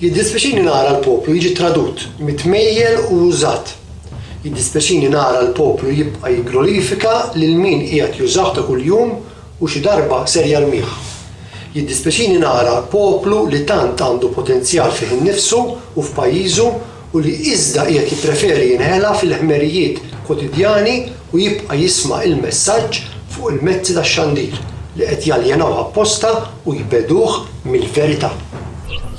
Jiddispjaċini nara l-poplu jiġi tradut, mitmejjel u użat. Jiddispjaċini nara l-poplu jibqa' jigglorifika lil min qiegħed jużah ta' kuljum u xi darba ser jarmih. Jiddispjaċini nara l-poplu li tant għandu potenzjal fih innifsu u f'pajjiżu u li iżda qiegħed jippreferi jinħela fil-ħmerijiet kwotidjani u jibqa' jisma' il-messaġġ fuq il-mezzi tax-xandir li qed jaljenawh apposta u jbegħduh mill-verità.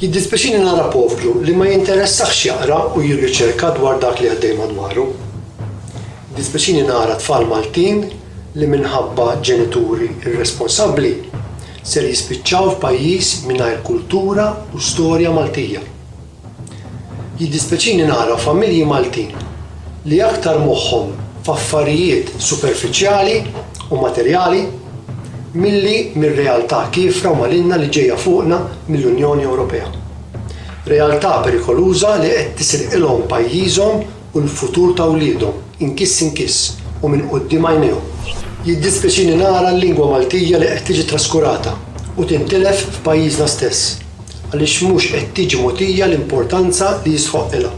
Jiddispjaċini nara povru li ma jinteressahx jaqra u jirriċerka dwar dak li għaddej madwaru. Jiddispjaċini nara tfal Maltin li minħabba ġenituri irresponsabbli ser jispiċċaw f'pajjiż mingħajr kultura u storja Maltija. Jiddispjaċini nara familji Maltin li aktar moħħhom f'affarijiet superfiċjali u materjali milli mir-realtà kiefra u malinna li ġejja fuqna mill-Unjoni Ewropea. Realtà perikoluża li qed tisirqilhom pajjiżhom u l-futur ta' wliedhom inkiss inkiss u minn quddiem għajnejhom. Jiddispjaċini nara l-lingwa Maltija li qed tiġi traskurata u tintilef f'pajjiżna stess għaliex mhux qed tiġi mogħtija l-importanza li jistħoqqilha.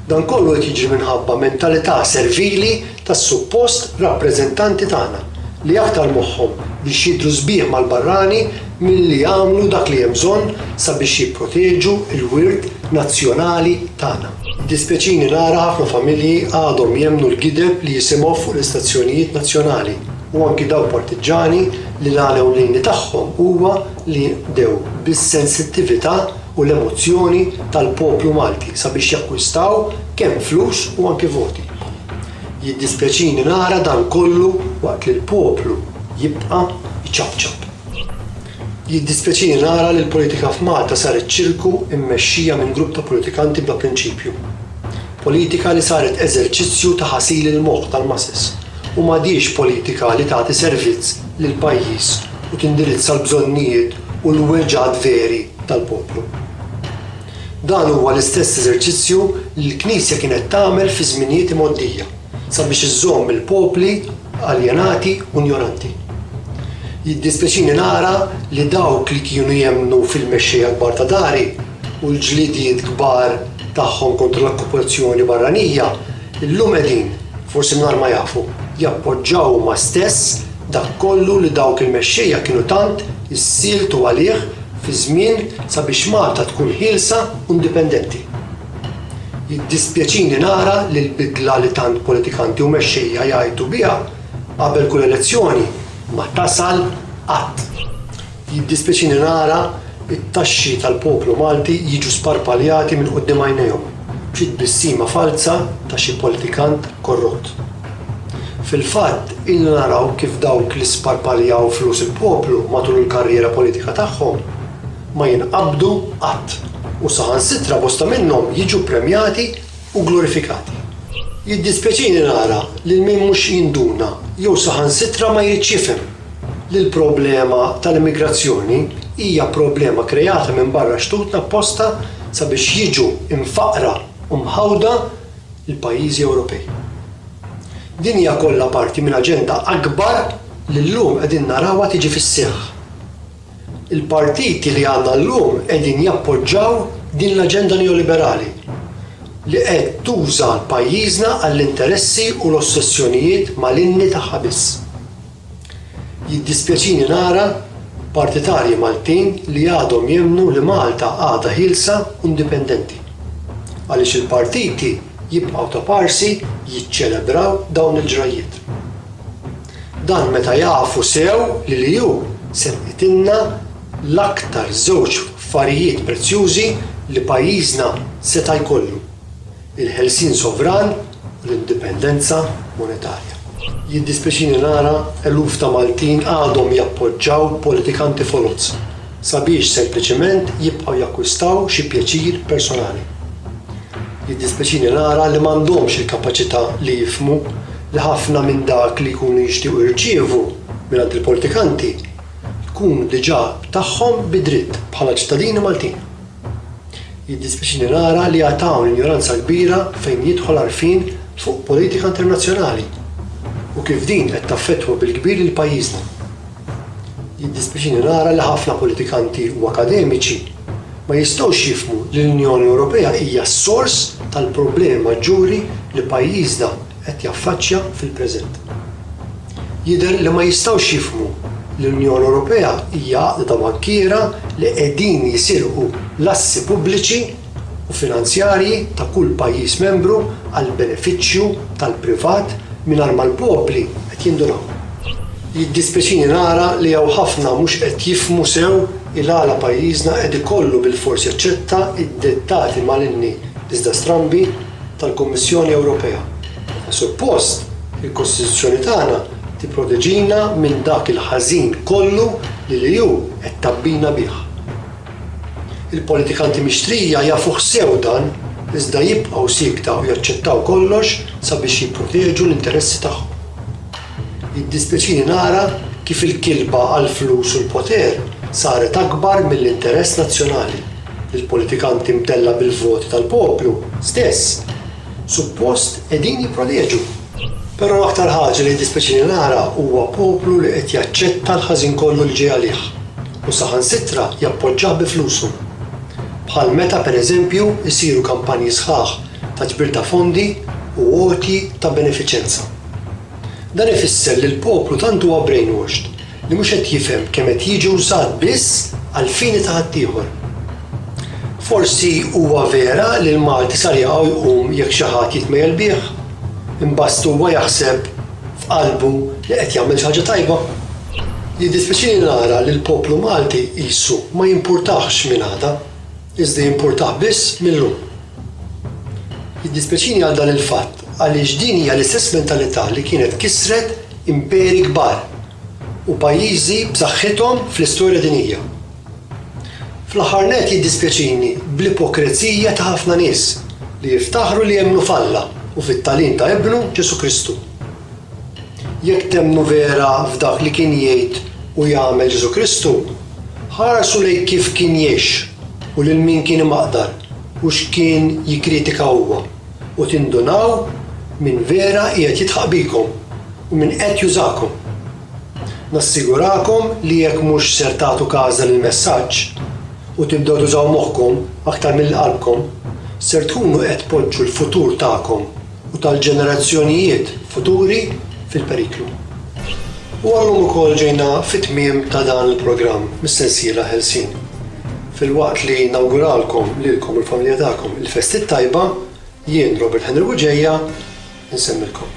Dan kollu qed jiġri minħabba mentalità servili tas-suppost rappreżentanti tagħna li aktar moħħhom biex jidhru sbieħ mal-barrani milli jagħmlu dak li hemm bżonn sabiex jipproteġu l-wirt nazzjonali tagħna. Jiddispjaċini nara ħafna familji għadhom jemmnu l-gideb li jisimgħu fuq l-istazzjonijiet nazzjonali u anki dawk partiġġani li l-għan ewlieni tagħhom huwa li jinqdew bis-sensittività u l-emozzjoni tal-poplu Malti sabiex jakkwistaw kemm flus u anki voti. Jiddispjaċini nara dan kollu waqt li l-poplu jibqa' jċapċap. Jiddispjaċini nara li l-politika f'Malta saret ċirku mmexxija minn grupp ta' politikanti bla prinċipju. Politika li saret eżerċizzju ta' ħasil il-moħħ tal-masses u m'għadhiex politika li tagħti servizz lill-pajjiż u tindirizza l-bżonnijiet u l-weġgħat veri tal-poplu. Dan huwa l-istess eżerċizzju li l-Knisja kienet tagħmel fi żminijiet imgħoddija sabiex iżżomm il-popli aljenati u njoranti. Jiddispjaċini nara li dawk li kienu jemmnu fil-mexxejja kbar ta' dari u l-ġlidiet kbar tagħhom kontra l-okkupazzjoni barranija, illum qegħdin, forsi mingħajr ma jafu, jappoġġaw huma stess dak kollu li dawk il-mexxejja kienu tant issieltu għalih fi żmien sabiex Malta tkun ħielsa u indipendenti. Jiddispjaċini nara li l-bidla li tant politikanti u mexxejja jgħajtu biha qabel kull elezzjoni ma tasal qatt. Jiddispjaċini nara t-taxxi tal-poplu Malti jiġu sparpaljati minn quddiem għajnejhom b'xi tbissima falza ta' xi politikant korrott. Fil-fatt, ilna naraw kif dawk li sparpaljaw flus il-poplu matul il-karriera politika tagħhom ma jinqabdu qatt u saħansitra bosta minnhom jiġu ppremjati u glorifikati. Jiddispjaċini nara lil min mhux jinduna jew saħansitra ma jridx jifhem li l-problema tal-immigrazzjoni hija problema kreata minn barra xtutna apposta sabiex jiġu mfaqqra u mħawda l-pajjiżi Ewropej. Din hija kollha parti minn aġenda akbar li llum qegħdin narawha tiġi fis-seħħ. Il-partiti li għandna llum qegħdin jappoġġaw din l-aġenda neoliberali li qed tuża pajjiżna għall-interessi u l-ossessjonijiet malinni tagħha biss. Jiddispjaċini nara partitarji Maltin li għadhom jemmnu li Malta għadha ħielsa u indipendenti. Għaliex il-partiti jibqgħu taparsi jiċċelebraw dawn il-ġrajjiet. Dan meta jafu sew li l-EU serqitilna l-aktar żewġ affarijiet prezzjużi li pajjiżna seta' jkollu, il-ħelsien sovran u l-indipendenza monetarja. Jiddispjaċini nara eluf ta' Maltin għadhom jappoġġaw politikanti foloz sabiex sempliċiment jibqgħu jakkwistaw xi pjaċir personali. Jiddispjaċini nara li m'għandhomx il-kapaċità li jifhmu li ħafna minn dak li jkunu jixtiequ jirċievu mingħand il-politikanti tkun diġà tagħhom bi dritt bħala ċittadini Maltin. Jiddispjaċini nara li għad hawn injoranza kbira fejn jidħol għarfien fuq politika internazzjonali u kif din qed taffettwa bil-kbir lil pajjiżna. Jiddispjaċini nara li ħafna politikanti u akademiċi ma jistgħux jifhmu li l-Unjoni Ewropea hija s-sors tal-problemi maġġuri li pajjiżna qed jaffaċċja fil-preżent. Jidher li ma jistgħux jifhmu li l-Unjoni Ewropea hija għaqda ta' bankiera li qegħdin jisirqu l-assi pubbliċi u finanzjarji ta' kull pajjiż membru għall-benefiċċju tal-privat mingħajr ma l-popli qed jindunaw. Jiddispjaċini nara li hawn ħafna mhux qed jifhmu sew il-għala pajjiżna qed ikollu bilfors jaċċetta d-dettati malinni iżda strambi tal-Kummissjoni Ewropea. Suppost, il-Kostituzzjoni tagħna tipproteġina minn dak il-ħażin kollu li l-EU qed tgħabbina bih. Il-politikanti mixtrija jafuh sew dan iżda jibqgħu siekta u jaċċettaw kollox sabiex jipproteġu l-interessi tagħhom. Jiddispjaċini nara kif il-kilba għall-flus u l-poter saret akbar mill-interess nazzjonali. Il-politikanti mdellgħa bil-voti tal-poplu stess suppost qegħdin jipproteġu. Però l-aktar ħaġa li jiddispjaċini nara huwa poplu li qed jaċċetta l-ħażin kollu li ġej għalih u saħansitra jappoġġah bi flusu. Bħal meta, per eżempju, isiru kampanji sħaħ ta' ġbir ta' fondi u għotji ta' benefiċenza. Dan ifisser li l-poplu tant huwa brainwashed li mhux qed jifhem kemm qed jiġi wżat biss għall-fini ta' ħaddieħor. Forsi huwa vera li l-Malti sar jaqaw jqum jekk xi ħadd jitmejjel bih, imbast huwa jaħseb f'qalbu li qed jagħmel xi ħaġa tajba. Jiddispjaċini nara li l-poplu Malti qisu ma jimpurtahx min għada. Iżda jimpurtah biss mil-lum. Jiddispjaċini għal dan il-fatt għaliex din hija l-istess mentalità li kienet kissret imperi kbar u pajjiżi b'saħħithom fl-istorja dinjija. Fl-aħħar nett jiddispjaċini bl-ipokrezija ta' ħafna nies li jiftaħru li jemmnu f'Alla u fit-tagħlim ta' Ibnu, Ġesù Kristu. Jekk temmnu vera f'dak li kien jgħid u jagħmel Ġesù Kristu, ħarsu lejn kif kien jgħix u lil min kien imaqdar u x'kien jikkritika huwa, u tindunaw min vera qiegħed jidħaq bikom u min qed jużakom. Nassigurakom li jekk mhux ser tagħtu każa lill-messaġġ u tibdew tużaw moħħkom aktar milli qalbkom, ser tkunu qed tpoġġu l-futur tagħkom u tal-ġenerazzjonijiet futuri fil-periklu. U għallum ukoll ġejna fit-tmiem ta' dan il-programm mis-sensiela Ħelsien. Filwaqt li nawguralkom lilkom u l-familja tagħkom il-Festi t-Tajba, jien, Robert Henry Bugeja, insemmilkom.